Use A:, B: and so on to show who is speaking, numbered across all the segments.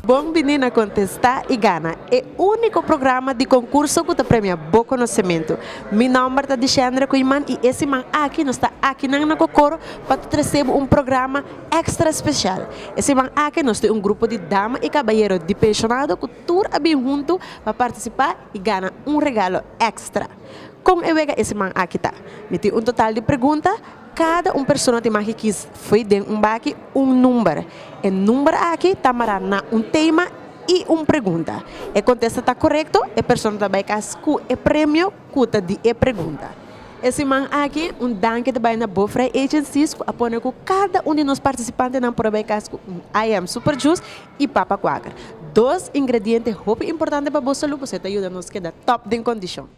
A: Bon bini na Contesta y Gana, e unico programa di concurso cu ta premia bo conocemento. Mi nomber ta Dicendre Koeiman y e siman aki nos ta akinan na Cocoro pa ta trece bo un programa extra special. E siman aki nos tin un grupo di dama y cabayero di pensionado cu. Tur a bin huntu pa partisipá i gana un regalo èkstra. Kon e wega e siman aki ta? Mi tin un total di pregunta, kada un persona tin maki kis fo'i den un baki un number. E number aki ta mará na un tema i un pregunta. E kontesta ta korekto, e persona ta bai kas ku e premio ku ta di e pregunta. E siman aki un danki ta bai na Bofrey Agencies ku a pone ku kada un di nos partisipantenan por a bai kas ku un IM Super Juice y papa quaker. Dos ingrediente hopi importante pa bo salud pasobra e ta yuda nos keda top den condicion.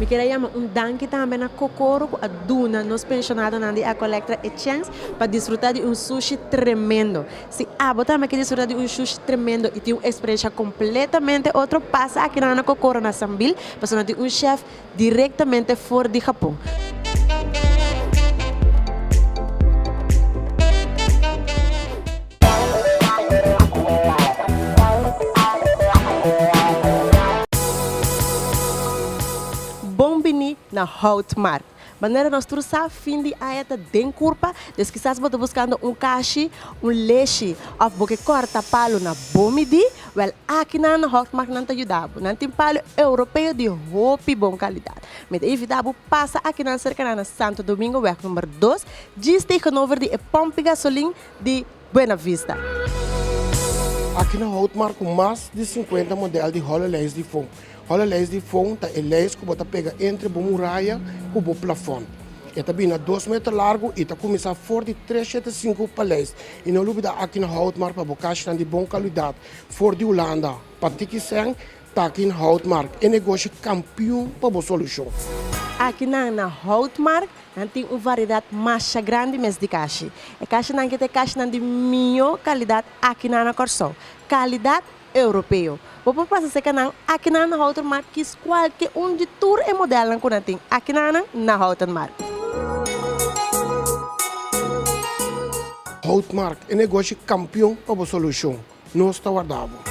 A: Mi kier a yama un danki tambe na Kokoro cu a duna nos pensionadonan di Ecolectra e chance pa disfruta di un sushi tremendo. Si abo tambe kier disfruta di un sushi tremendo y tin un experiencia completamente otro pasa aki nan na Kokoro na Sambil pasobra nan tin un chef Directamente for di Japon. Bon bini na Houtmark. Manera nos tur sa, fin di aña ta den curpa, dus kisas bo ta buscando un cashi, un leshi of bo ke corta palo na bo midí, Wel, akinan Hofmagnan ta yuda bo. Nan tin palu europeo di hopi bon kalidat. Mi ta invita bo pasa akinan serkanan na Santo Domingo wèg number dos, djis tegenover di e pòmpi gasolin di Buenavista.
B: Akinan Houtmark ku mas di sinkuenta modèl di Hololens di fon. Ora lais di fon ta e lais ku bo ta pega entre bo muraya ku bo plafon. E ta bira dos meter largu i ta kuminsá for di tres shete sinku paleis. I no lubidá aki na Houtmark pa bo kashnan di bon kaluidat for di Hulanda. Pa tiki sèn, taki na Houtmark e negoshi kampiun pa bo solushon. Akinan
A: na Houtmark nan tin un variedat masha grandi mes di kashi. E kashinan aki ta e kashinan di mihó kalidat akinan na Kòrsou. Kalidat Europeo. Bo por pasa serka nan, akinan na Houten Markt kis kualke un di tur e modelnan ku nan tin akinanan na Houten Markt.
B: Houten Markt, e negoshi kampion pa bo solushon, nos ta warda bo.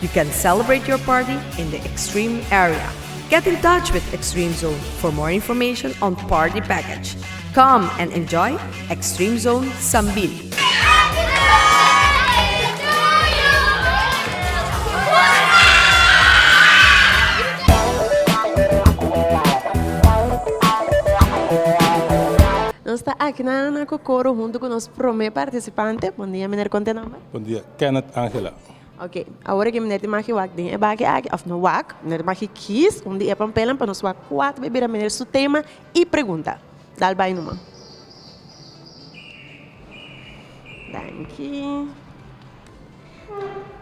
C: You can celebrate your party in the Extreme area. Get in touch with Extreme Zone for more information on party package. Come and enjoy Extreme Zone Sambil.
A: Nos ta aki na na Kokoro huntu ku nos promé partisipante. Bon dia, miner, kon ta e nòmber? Bon dia, Kenneth
D: Angela. Ok, awor
A: aki miner tin maki wak den e baki aki of no wak, miner tin maki kies un di e pampelan pa nos wak kuater bay bira miner su tema y pregunta. Dal bay numa. Danki.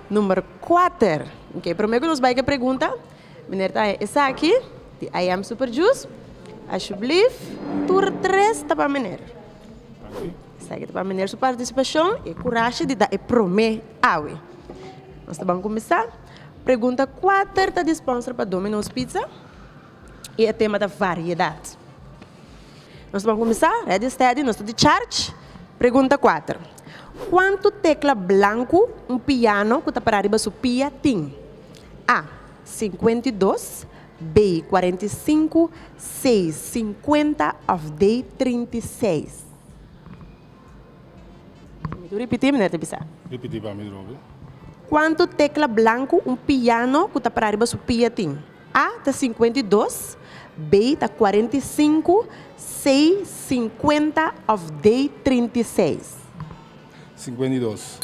A: Number kuater. Ok, primer cu nos bay cu e pregunta, miner ta haña esaki di I am super juice. Alsjeblieft, tur tres ta pa miner. Esaki ta pa Meneer su partisipashon i e kurashe di da e promé awe. Nos ta ban kuminsá. Pregunta kuater ta disponser pa Domino's Pizza i e tema ta variedat. Nos ta ban kuminsá. Redi stedi, nos ta di charge. Pregunta kuater. Kuantu tekla blanku un piano ku ta pará riba su pia tin? A. Sinkuenta i dos B. Kuarenta i sinku C. Sinkuenta òf D. Trinta i seis. Mi tur ripití, meneer ta bisa. Ripití pa mi di
D: novo. Kuantu
A: tekla blanku un piano ku ta para riba su pia tin? A ta sinkuenta i dos, B ta kuarenta i sinku, C sinkuenta òf D trinta i seis? Sinkuenta
D: i dos.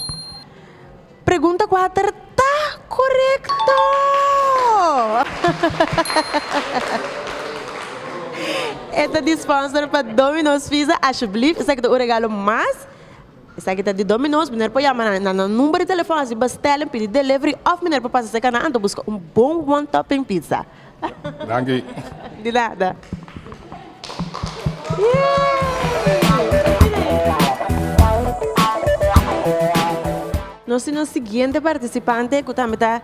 A: Pregunta kuater ta korekto! E ta di sponsor pa Domino's Pizza. Ashublift, esaki ta un regalo mas. Esaki ta di Domino's. Mineer por yama nan na nan number di telefon, así bastel en pidi delivery of mineer por pasa cerca nan ta busca un bon one topping pizza. Danki.
D: Di nada.
A: Nos tin un siguiente participante cu tambe ta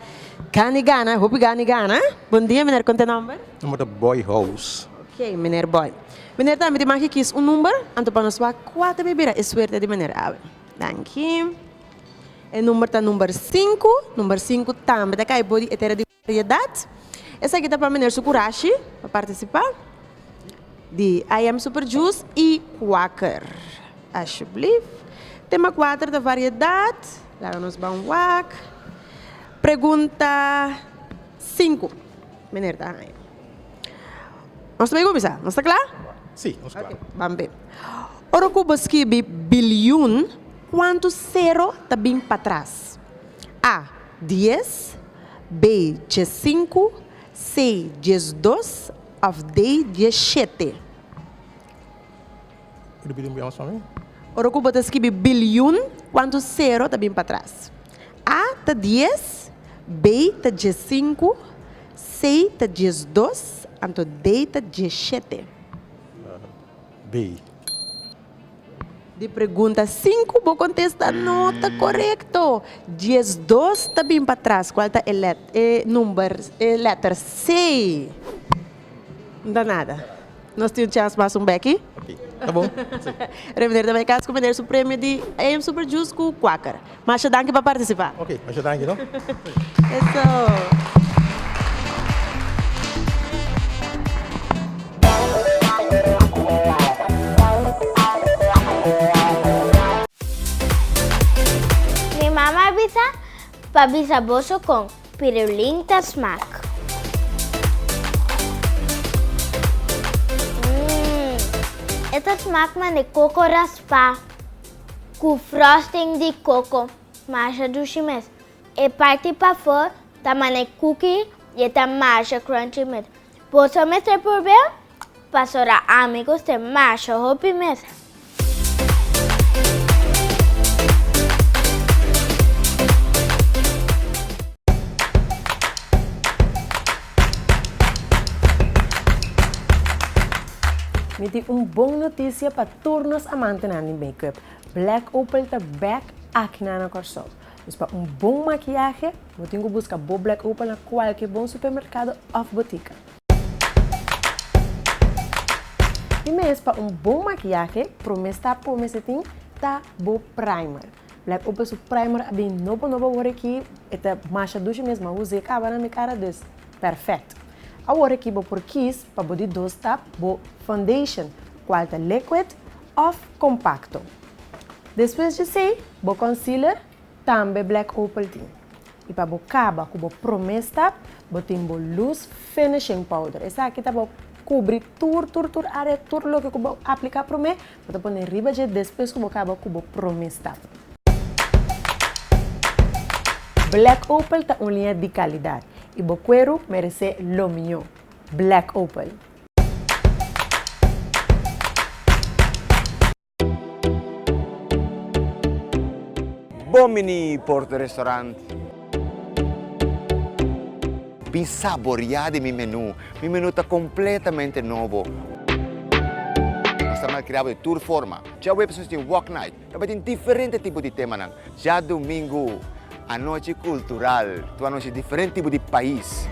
A: Gani Gana, hopi Gani Gana. Bon dia meneer, con ta e nomber? Nomber ta Boy
E: House. Ok meneer Boy.
A: Meneer tambe tin maki kies un number, anto pa nos wak cua ta mi bira e suerte di meneer awe. Danki. E number ta number sinku, number sinku tambe ta cay bo di e tera di. Prioridad. Esaki ta pa miner su curashi pa participa di I am super juice y Quaker. Ashublief. Tema cuater ta variedad. Laga nos ban wak. Pregunta cinco. Miner ta haya. Nos ta bay cuminsa. Nos ta cla? Si, nos cla.
E: Ok, ban
A: bay. Ora cu bo skibi bilyon, cuantu cero ta bin patras? A. Dies. Bey dies sinku, Sey dies dos, of Dey dies shete.
E: Ora ku bo ta skibi
A: bilyun, kuantu sero ta bin patras? A ta dies, Bey ta dies sinku, Sey ta dies dos, anto Dey ta dies shete.
E: Bey.
A: Di pregunta sinku bo kontesta no ta korekto. Dies dos ta bin pa tras kual ta e let e number e letter C. Nta nada. Nos tin un chans mas un beki. Ok ta bon.
E: Revender ta bai
A: kas ku meneer su premio di AM Super Juice ku kuaker. Masha danki pa participa. Ok, masha danki no.
E: Eso.
F: Mi mama a bisa pa bisa boso con pirulin ta smaak. Mmm e ta smaak mande coco raspa. Cu frosting di coco. Masha dushi mes. E parti pafor ta mane cookie y e ta masha crunchy mes. Boso mester probel pasobra ami gust e masha hopi mes. Mi
A: tin un bon noticia pa. Tur nos amantenan di make-up, Black Opal ta bek aki na na Kòrsou. Dus pa un bon makiahe, bo tin ku buska bo Black Opal na kualke bon supermerkado òf botika. Di mes pa un bon makiahe, promé stap ku bo mester tin ta bo primer. Like un perso primer a bin nobo nobo awor aki e ta masha dushi mes ma Jose caba na mi cara dus perfect awor aki bo por kies pa bo di dos tap bo foundation cual ta liquid of compacto despues di esey bo concealer tambe black opal tin y pa bo caba cu bo prome stap bo tin bo loose finishing powder esaki ta bo cubri tur tur tur area tur loke cu bo aplica prome Bo ta pone riba dje despues ku bo kaba ku bo promé stap. Black Opal ta un liña di kalidat i bo kueru meresé lo mihó. Black Opal.
G: Bon bini Porto Restaurant. Bin saboriá di mi menú. Mi menú ta kompletamente nobo. Nos ta malkriá bo di tur forma. Djaweps nos tin Walk Night. Ta bai tin diferente tipo di temanan. Djadumingu anochi kultural. Tur anochi diferente tipo di pais.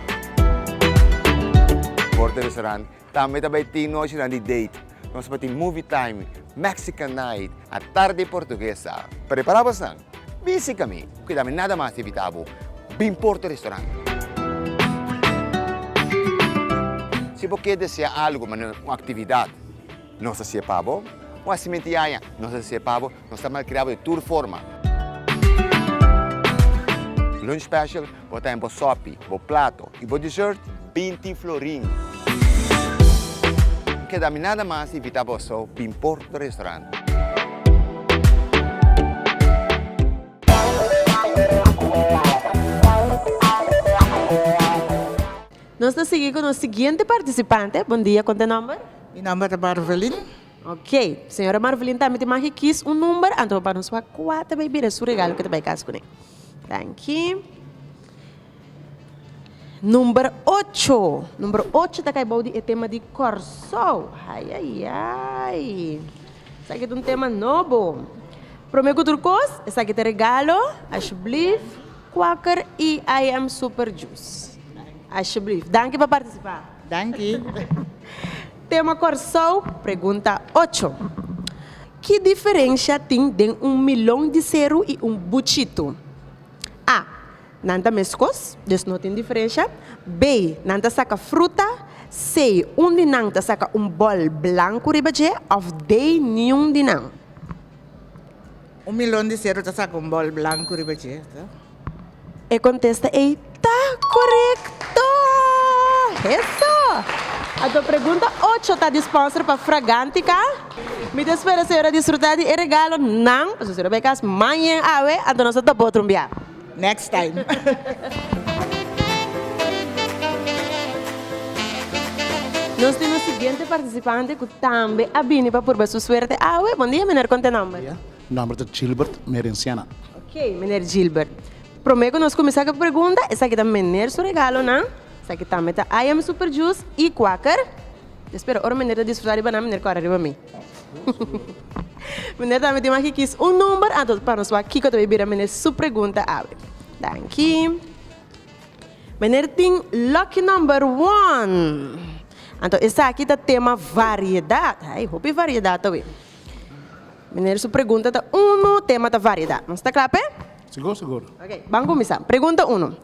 G: Bord di Restaurant. Tambe ta bay tin nochinan di date. Nos pa tin movie time, Mexican night, a tarde portuguesa. Prepara bosnan. Bin sika mi. Cuida mi nada mas di bita bo. Bin Porto Restaurant. Si bo kier desea algo, mane un actividad, nos ta sier pa bo. Un asimenti yaya, nos ta sier pa bo. Nos ta malkriado di tur forma. Lunch special por ta den bo sopi, bo plato y bo dessert binti florin. No keda mi nada mas di invita boso bin por no restaurant.
A: Nos ta sigui cu nos siguiente participante. Bon dia, con ta e nomber? Mi nomber ta
H: Barbelin. Ok.
A: Señora Marvelin tambe tin maki kies un number anto bo panos wak kua ta bay bira su regalo ke ta bay cas cune. Danki. Number ocho. Number ocho ta cay bou di e tema di Corsou. Ayayay. Esaki ta un tema nobo. Prome cu tur cos esaki ta regalo. Alsjeblief Quaker EIM Super Juice. Alsjeblief. Danki pa participa. Danki. Tema Kòrsou, Pregunta ocho. Ki diferensha tin den un milon di seru i un buchitu? A. Nan ta meskos, dus no tin diferensha. B. Nan ta saka fruta. C. Un di nan ta saka un bòl blanku riba dje òf D. Niun di nan.
H: Un milon di seru ta saka un bòl blanku riba dje.
A: E kontesta ei ta korekto! Eso! Anto pregunta ocho ta di sponsor pa Fragantica. Mi ta spera señora disfruta di e regalo nan pasobra señora bai kas mañen awe anto nos ta topa otro un bia. Next time. Nos tin un siguiente participante cu tambe a bini pa purba su suerte awe. Bon dia meneer con te nomber? Mi nomber ta Gilbert
I: Merenciana. Ok Meneer
A: Gilbert. Prome ku nos kuminsá ku e pregunta, esaki ta Meneer su regalonan, esaki tambe ta I am Super Juice i Quaker. Mi spera ora Meneer ta disfrutá di banan Meneer kòrè riba mi. Meneer tambe tin maki kis un number, anto pa nos wak kiko ta bai bira Meneer su pregunta awe. Danki. Meneer tin lucky number one. Anto esaki ta tema variedat. Ai hopi variedat awe. Meneer su pregunta ta uno, tema ta variedad. Nos ta kla p'e? Sigur, sigur.
I: Ok, ban kuminsá.
A: Pregunta uno.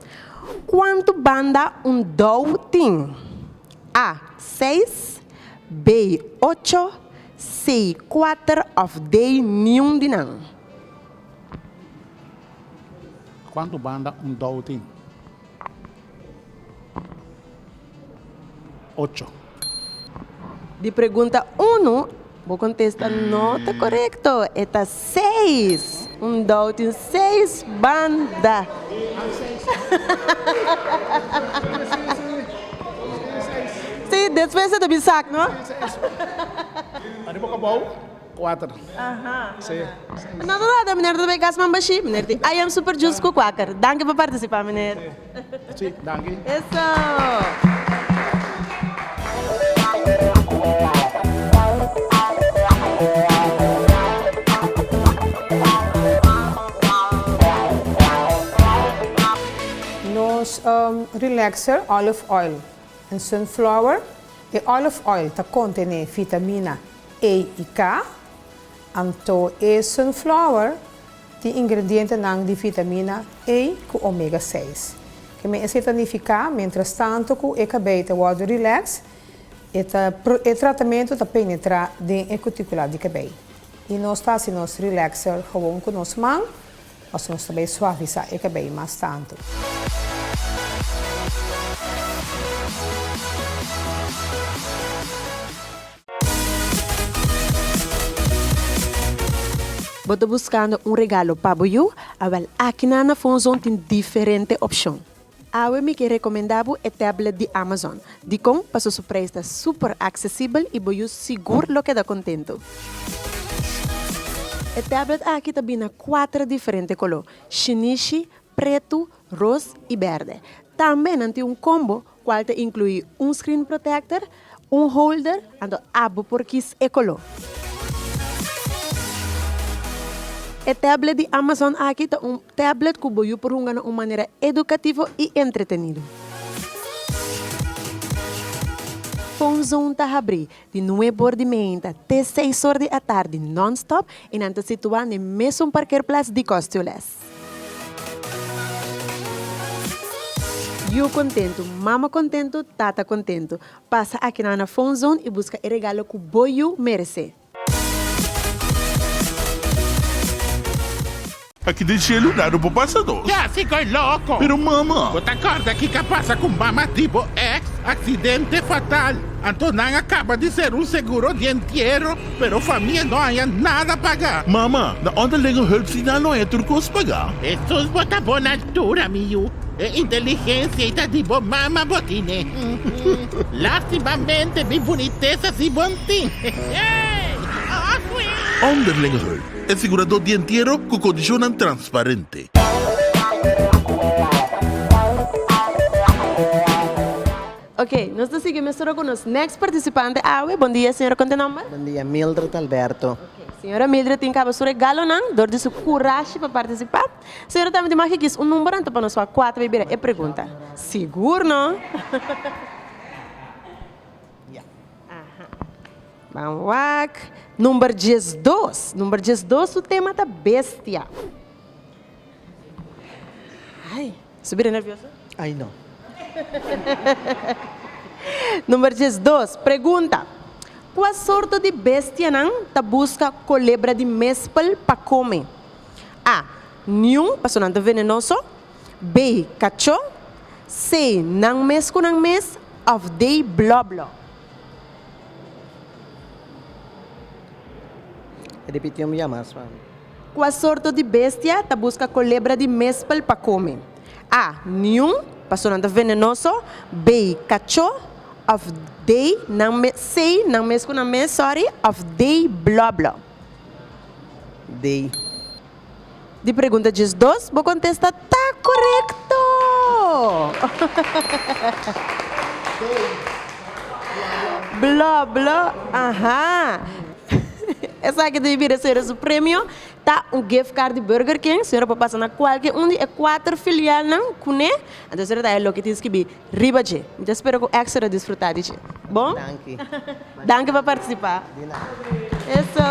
A: Kuantu banda un dou tin? A. Seis B. Ocho C. Kuater òf D. Niun di nan.
I: Kuantu banda un dou tin? Ocho.
A: Di pregunta uno, bo contesta no ta correcto. E ta seis. Un dou tin seis banda. Sí, despues e ta bin sak, no?
I: Arriba cu abou. Kuater. Nan ta trata
A: meneer Rebecca Asman Bashir, meneer tin I am super juice cu cuaker. Danki pa participa meneer. Si,
I: danki.
J: Nos relaxer olive oil en sunflower. E olive oil ta contene vitamina. Ei i ka. Anto e sunflower tin ingredientenan di vitamina A ku omega seis. Ke men esei ta nifiká, miéntras tantu ku e kabei ta wòrdu rilèks, e ta e tratamentu ta penetrá den e kutikulat di kabei i nos ta hasi nos rilèkser gewoon ku nos man, pasobra nos ta bai suavisá e kabei mas tantu.
A: Bo ta buskando un regalo pa bo yu? A wel, aki nan na Phonezone tin diferente opshon. Awe mi ke rekomendá bo e tablet di Amazon. Dikon? Pasobra su preis ta súper aksesibel i bo yu sigur lo keda kontentu. E tablet aki ta bini na kuater diferente koló, shinishi, pretu, ros i bèrdè. Tambe nan tin un kombo cual ta inclui un screen protector, un holder, anto ap bo por kies e color. E tablet di Amazon aki ta un tablet cu bo yu por hunga na un manera educativo y entretenido. Phone Zone ta habri di nueb or di meeinta te seis or di atardi non-stop y nan ta situa n'e mesun parkeerplaats di Kostjules. Yu kontentu, mama kontentu, tata kontentu. Pasa aki nan na Phone Zone i buska e regalo ku bo yu meresé.
K: Aki den shelu nada por pasa nos. Ya si koe loko.
L: Pero mama. Bo ta
K: kòrda kika
L: pasa ku mama di bo èks? Aksidente fatal. Anto nan a kaba di ser un seguro di entiero. Pero famia no haya nada paga. Mama, na
K: Onderlingenhulpsdienal no haya tur
L: cos
K: paga.
L: Jesús
K: bo ta bon altura
L: mi yu.
K: E inteligencia
L: y ta di bo mama bo tine. Lastimamente mi bunitesa si bo n'tin.
K: Onderlingenhulp, e sigurado di entiero cu condicionnan transparente.
A: Ok nos ta sigui mesora cu nos next participante awe. Bon dia señora con ta e nomber? Bon dia Mildred
M: Alberto. Ok señora Mildred tin
A: caba su regalonan dor di su curashi pa participa. Señora tambe tin maki kiss un number anto pa nos wak cua ta bay bira e pregunta. Sigur no? Ya. Aha. Ban wak number diesdos. Number diesdos su tema ta bestia.
M: Number
A: diesdos, Pregunta, Kua sorto di bestianan ta buska kolebra di mespel pa kome? A. Niun, paso nan ta venenoso. B. Kacho. C. Nan mes ku nan mes. Òf D. Blòblò.
M: Kua sorto
A: di bestia ta buska kolebra di mespel pa kome? A. Niun, pasobra nan ta venenoso. B. Kacho, òf D. Nan mes, C. Nan mes ku nan mes, sòri, òf D. Blòblò.
M: D.
A: Di pregunta djesdos, bo kontesta. ta korekto! Bló, bló, aha! Esaki ta bira sera su premio, ta un gift card di Burger King. Sera por pasa na kualke un di e kuater filialnan kuné, anto sera ta e loke tin skibi Riba dje. Mi ta spera cu Extra a disfruta di dje. Bon? Danki.
M: Danki pa
A: participa. Di nada.
M: Eso!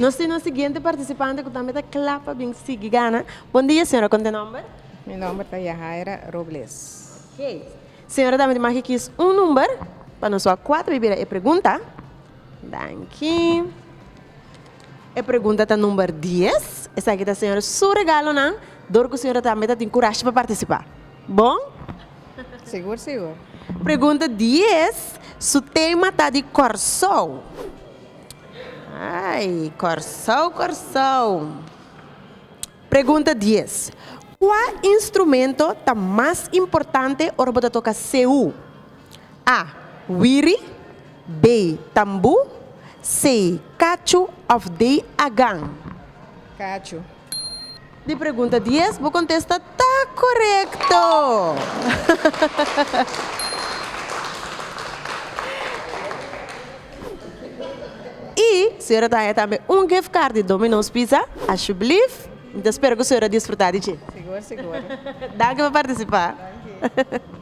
A: Nos tin nos siguiente participante cu tambe ta cla pa bin sigui gana. Bon dia, señora con ta e nomber? Mi nomber ta
J: Yahaira Robles. Ok.
A: Señora tambe tin maki kies un number pa nos wak cuatro y bira e pregunta. Danki. E pregunta ta number dies. Esaki ta señora su regalonan dor cu señora tambe ta tin curashi pa participa. Bon?
J: Sigur sigur. Pregunta
A: dies, su tema ta di Corsou. Ay Corsou Corsou. Pregunta dies, cua instrumento ta mas importante ora bo ta toca seu? A. Wiri, B. Tambu, C. Kachu òf D. Agan. Kachu. Di pregunta dies bo kontesta ta korekto! I señora ta haña tambe un gift card di Domino's Pizza, ashublief. Mi ta spera ku señora disfrutá di dje. Sigur sigur.
J: Danki pa
A: partisipá. Danki.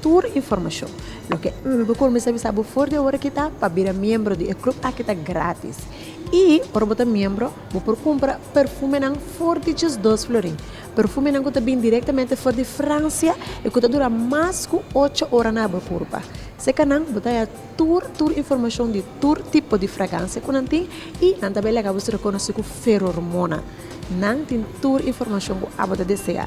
A: Tur informashon, loke bo por mester bisa bo for di e ora aki ta pa bira miembro di e club aki ta gratis. I ora bo ta miembro bo por kumpra perfumenan for di diesdos florin. Perfumenan ku ta bin direktamente for di Fransia i ku ta dura mas ku ocho ora na bo kurpa. Sekanan bo ta haya tur tur informashon di tur tipo di fragansia ku nan tin i nan ta bai laga bo ser rekonosí ku ferormona. Nan tin tur informashon ku abo ta desea.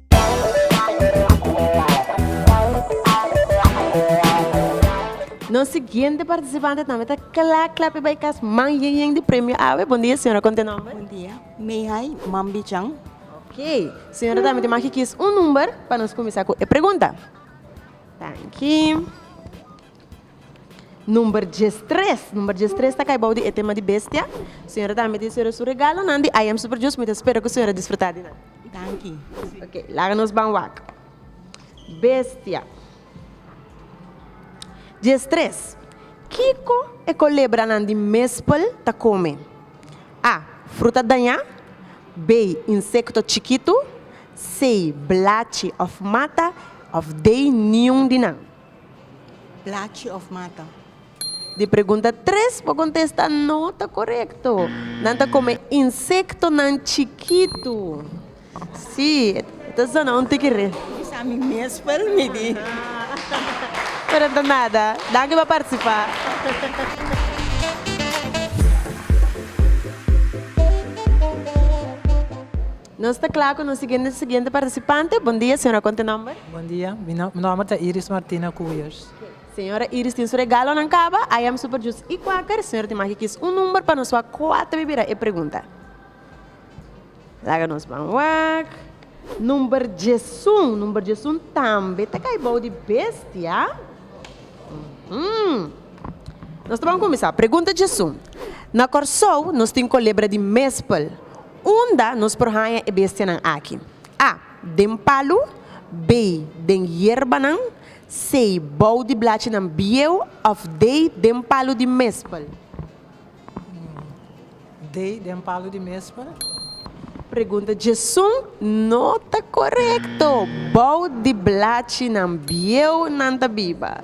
A: Nos siguiente participante tambe ta kla kla pi bay kas man yen yen di premio awe. Bon dia señora con te nomber? Bon dia Meihay
N: Mambichan. Ok
A: señora tambe tin maki kies un number pa nos cuminsa cu e pregunta. Danki. Number djes tres, number djes tres ta kai bou di e tema di bestia. Señora ta miti señora su regalonan di I am super djus mi ta spera ku señora disfruta di nan. Danki.
N: Ok, laga nos
A: ban wak. Bestia. Djes tres, kiko e kolebranan di mespel ta kome? A, fruta dañá B, insekto chikitu C, blachi òf mata òf D, niun di nan.
N: Plachi of mata? Di
A: pregunta tres bo contesta no ta corecto. Nan ta come insectonan chikitu. Sí, e ta zona un tiki re. Mis a mi mespel
N: mi di.
A: Pero no ta nada. Danki pa participa. Nos ta kla ku nos siguiente siguiente partisipante. Bon dia, señora konta nòmber? Bon dia, mi
O: nòmber ta Iris Martina Kuyers. Señora Iris
A: tin su regalonan kaba, ayam super juice i kwaker. Señora tin maki kis un number pa nos wak kua ta bai bira e pregunta. Laga nos ban wak. Number diesun, number diesun tambe ta kai bou di bestia. Nos ta ban kuminsá. Pregunta diesun. Na Kòrsou nos tin kolebra di mespel. Unda nos por haña e bestianan aki? a. Den palu b. Den yerbanan c. Bou di blachinan bieu òf d. Den palu di mespel.
O: D. Den palu di mespel. Pregunta
A: djesun no ta korekto. Bou di blachinan bieu nan ta biba.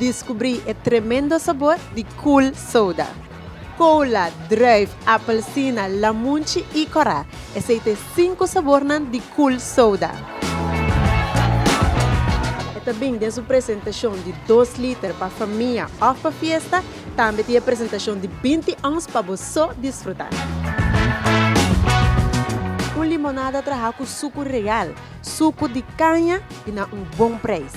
A: Diskubrí e tremendo sabor di Cool Soda. Kola, druif, apelsina, lamunchi i kòrá, esei ta e sinku sabornan di Cool Soda. E ta bini den su presentashon di dos liter pa famia òf pa fiesta, tambe tin e presentashon di binti ons pa bo so disfrutá. Un limonada trahá ku suku real. suku di kaña i na un bon preis.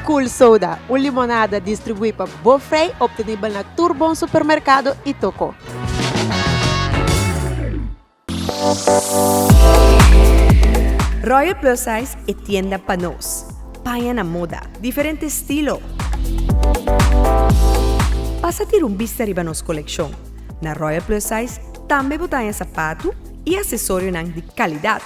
A: Cool Soda, un limonada distribuí pa bo frei, optenibel na tur bon supermerkado i toko.
C: Royal Plus Size e tienda pa nos. Paña na moda, diferente estilo. Pasa tira un bista riba nos kolekshon. Na Royal Plus Size tambe bo ta haña sapatu, i asesorionan di kalidat,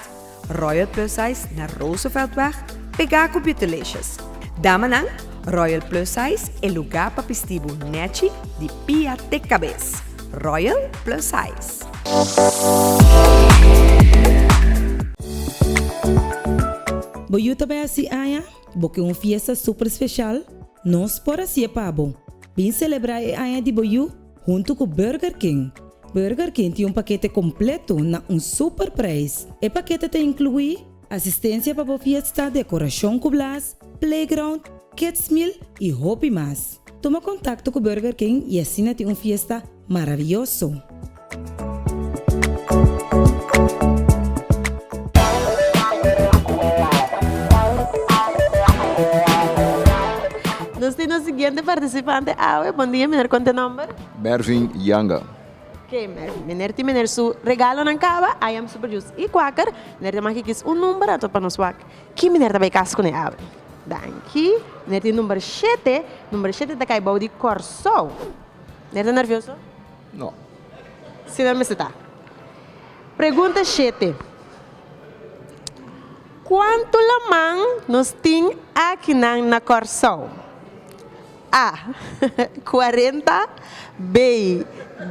C: Royal Plus Size na Rooseveltweg pegá ku Beautelicious. Damanan, Royal Plus Size e lugá pa pisti bo nèchi di pia te kabes. Royal Plus Size.
P: Bo yu ta bai a si aña? Bo ke un fiesta super speshal? Nos por hasié pa bo. Bin selebrá e aña di bo yu? Huntu ku Burger King. Burger King tin un pakete kompletu na un super preis. E pakete ta inkluí, asistensia pa bo fiesta, dekorashon ku blas, playground, kids meal i hopi mas. Tuma kontakto ku Burger King i asina tin un fiesta maravioso.
A: Nos tin nos siguiente participante awe. Bon dia meneer con ta e nomber? Mervin Yanga.
Q: Ok Mervin,
A: meneer tin meneer su regalonan caba, I am super juice y quaker. Meneer ta maki kies un number ato pa nos wak ki meneer ta bay cas cune awe. Danki. Meneer tin number shete, number shete ta cay bou di Corsou. Meneer ta nervioso? No.
Q: Si
A: nan mester ta. Pregunta shete, Kuantu laman nos tin akinan na Kòrsou? A. Kuarenta B.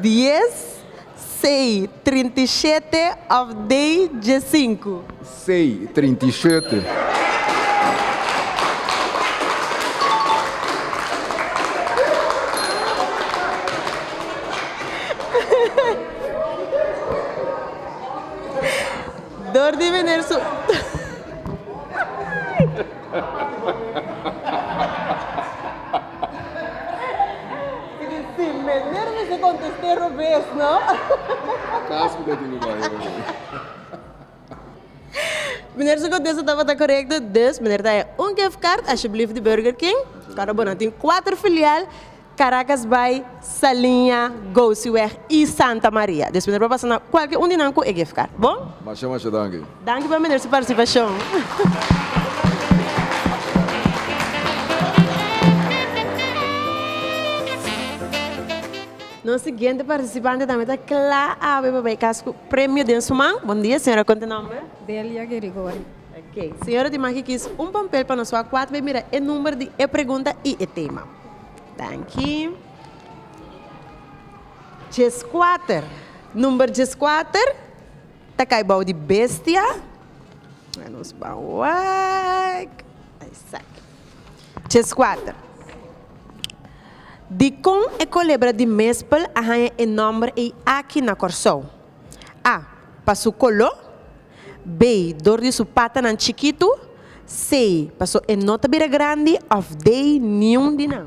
A: Dies C. Trinta i shete òf D. Diesinku? Sei
Q: trinta i shete.
A: Dor di vener su Sin vener mi ke kontesté robes, no? Kas
Q: ku ta tin ku bai hopi.
A: Meneer su contesta tabata correcto dus meneer ta den un gift card alsjeblieft di Burger King ora bo na tin cuater filial Caracas bay, Saliña, Gosiweg y Santa Maria dus meneer por pasa na cualkier un di nan cu e gift card bon. Masha masha danki.
Q: Danki pa meneer su
A: participacion. Nos siguiente participante tambe ta cla awe pa bay cas cu premio den su man. Bon dia señora con ta nomber? Delia Gerigori.
R: Ok señora
A: di maki kies un pampel pa nos so a cuat bay mira e number di e pregunta y e tema. Danki. Dies cuater number dies cuater ta cay bao di bestia. Nos bao wak. Esaki. Chesquater. Dikon e kolebra di mespel a haña e nòmber ei aki na Kòrsou? A pa su koló, B dor di su patanan chikitu, C paso e no ta bira grandi òf D niun di nan.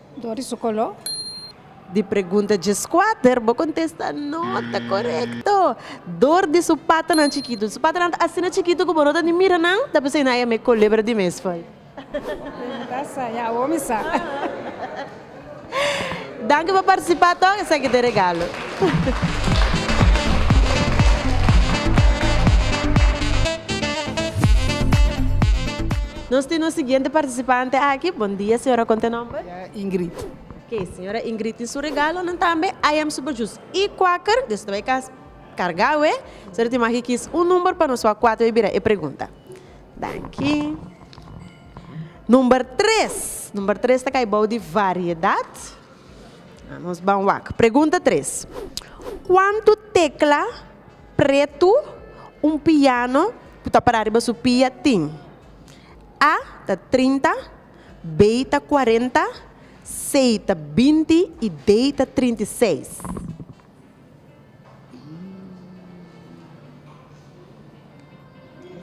R: Dor di su kolo. Di
A: pregunta djeskuater bo kontesta no ta korekto. Dor di su patanan chikitu. Su patanan ta asina chikitu ku bo no ta ni mira nan, ta p'esei nan e me kulebra di mesfoi. Pregunta
R: sa, ya awor mi sa.
A: Danki pa partisipá tòg, esaki ta e regalo. Nos tin un siguiente participante aki. Bon dia señora con ta nomber? Ya Ingrid. Ok
O: señora
A: Ingrid tin su regalonan tambe I am super juice y quaker di eso ta bay cas carga awe so tin magi kies un number pa nos wak cuato bay bira e pregunta danki number tres number tres ta cay bou di variedad nos ban wak pregunta tres cuanto tecla Pretu, un piano ku ta para riba su pia tin, A ta trinta, B ta kuarenta, C ta binti i D ta trinta i seis.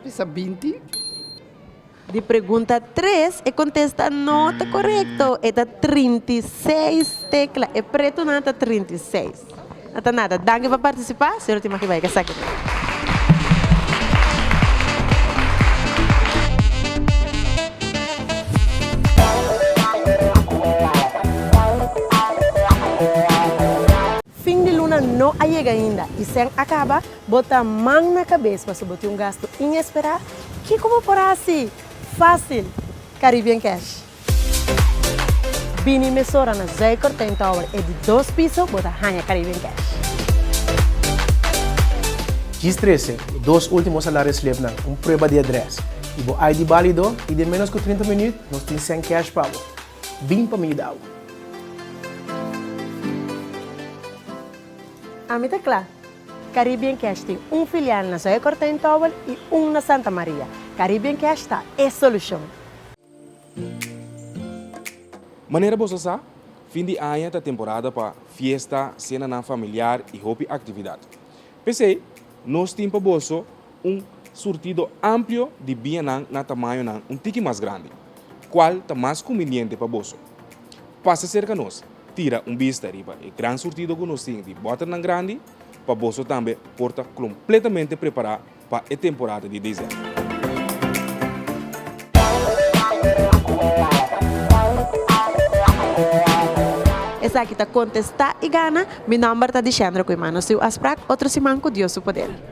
O: Bisa binti.
A: Di pregunta tres, e kontesta no ta korekto. E ta trinta i seis tekla. E pretunan ta trinta i seis. No ta nada. Danki pa partisipá. Señor tin maki bai ka sa aki riba. Fin di luna no a yega ainda i sèn a kaba. Bo ta man na kabes paso bo tin un gasto inesperá? Kiko bo por hasi? Fásil! Caribbean Cash. Bini mesora na Zuikertijn Tower, e di dos piso, bo ta haña Caribbean Cash.
S: Djis trese, bo dos último salariosslipnan, un prueba di adrès, i bo ID bálido, i den ménos ku trinta minüt nos tin sèn cash pa bo. Bin pa mi yuda bo!
A: Ami ta kla! Caribbean Cash tin un filial na Zoya Kortijn Towel i un na Santa Maria. Caribbean Cash ta e solucion.
T: Manera boso a sa, fin di aña ta temporada pa fiesta, senanan familiar i hopi actividad. P'esei, nos tin pa boso. Un surtido amplio di bianan na tamañonan un tiki mas grandi. Cual ta mas cumbiente pa boso? Pasa cerca nos, tira un bista riba e gran surtido cu nos tin di boternan grandi pa boso tambe por ta completamente prepara pa e temporada di December.
A: Esaki ta contesta y gana. Mi nomber ta Dixendra cu e mano siu a sprak otro siman cu Dios su poder.